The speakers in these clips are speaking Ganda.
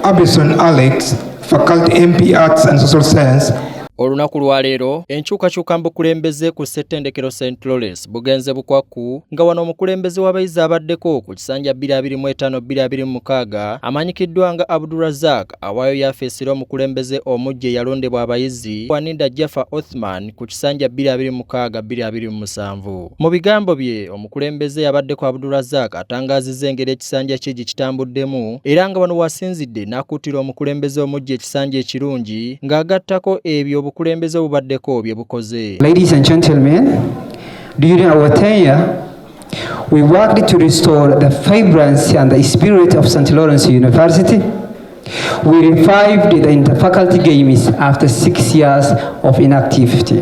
Abison Alex, Faculty MP Arts and Social Science. Olunaku lwa leero enkyukakyuka mu bukulembeze ku ssettendekero St Lawrence bugenze bukwakku nga wano omukulembeze w'abayizi abaddeko ku kisanja 22526 amanyikiddwa nga Abdurazak awaayo yafeesira omukulembeze omujja eyalondebwa abayizi Waninda Jaffa Othman ku kisanja 22627 mu bigambo bye Omukulembeze yabaddeko Abdulrazak atangaazizza engeri ekisanja kye gye kitambuddemu era nga wano wasinzidde n'akuutira omukulembeze omujja ekisanja ekirungi ng'agattako ebyo obukulembeze obubaddeko bye bukoze. Ladies and gentlemen, during our tenure, we worked to restore the vibrancy and the spirit of St. Lawrence University. We revived the interfaculty games after six years of inactivity.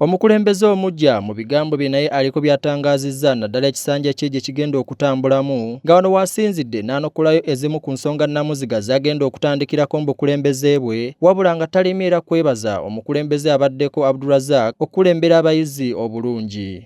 Omukulembeze omugya mu bigambo bye naye aliko by'atangaazizza naddala ekisanja kye gye kigenda okutambulamu nga wano waasinzidde n'anokolayo ezimu ku nsonga nnamuziga zagenda okutandikirako mu bukulembeze bwe wabula nga talemye era kwebaza omukulembeze abaddeko Abdurazak okukulembera abayizi obulungi.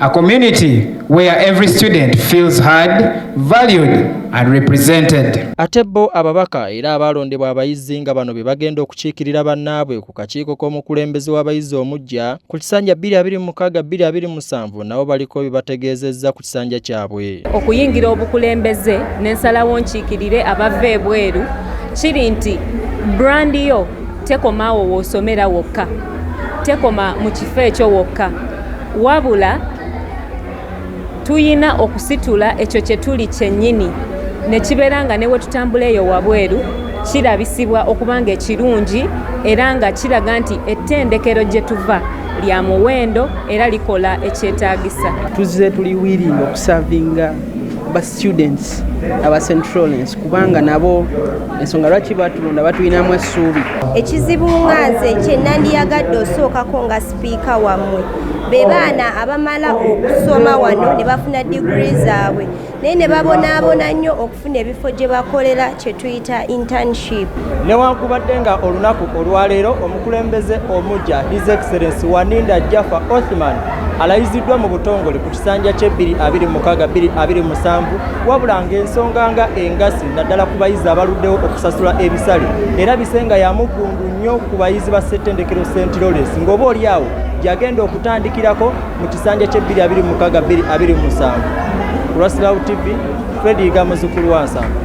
A community where every student feels heard, valued and represented. Ate bo ababaka era abaalondebwa abayizi nga bano be bagenda okukiikirira bannaabwe ku kakiiko k'omukulembeze w'abayizi omuggya ku kisanja 226227 nabo baliko bye bategeezezza ku kisanja kyabwe. Okuyingira obukulembeze n'ensalawo nkiikirire abava ebweru kiri nti brand yo tekoma awo wosomera wokka tekoma mu kifo ekyo wokka wabula tuyina okusitula ekyo kye tuli kyennyini ne kibeera nga ne we tutambula eyo wabweru kirabisibwa okuba nga ekirungi era nga kiraga nti ettendekero gye tuva lya muwendo era likola ekyetaagisa tuzze tuli wiringa okusavinga ba students aba centralens kubanga nabo ensonga lwaki batulonda batulinamu essuubi ekizibu nga nze kyenandiyagadde osookako nga sipiika wammwe be baana abamala okusoma wano ne bafuna digiri zaabwe naye ne babonaabona nnyo okufuna ebifo gye bakolera kye tuyita internship newankubadde nga olunaku olwaleero omukulembeze omujja his excellence waninda jaffa othman alayiziddwa mu butongole ku kisanja kye 226 wabula ng'ensonga nga engasi naddala ku bayizi abaluddewo okusasula ebisale era bisenga yamuggundu nnyo ku bayizi ba ssettendekero st lores ng'oba oli awo gyagenda okutandikirako mu kisanja kye 226 ku rasilawu tv fredi yiga muzukulu wansanvu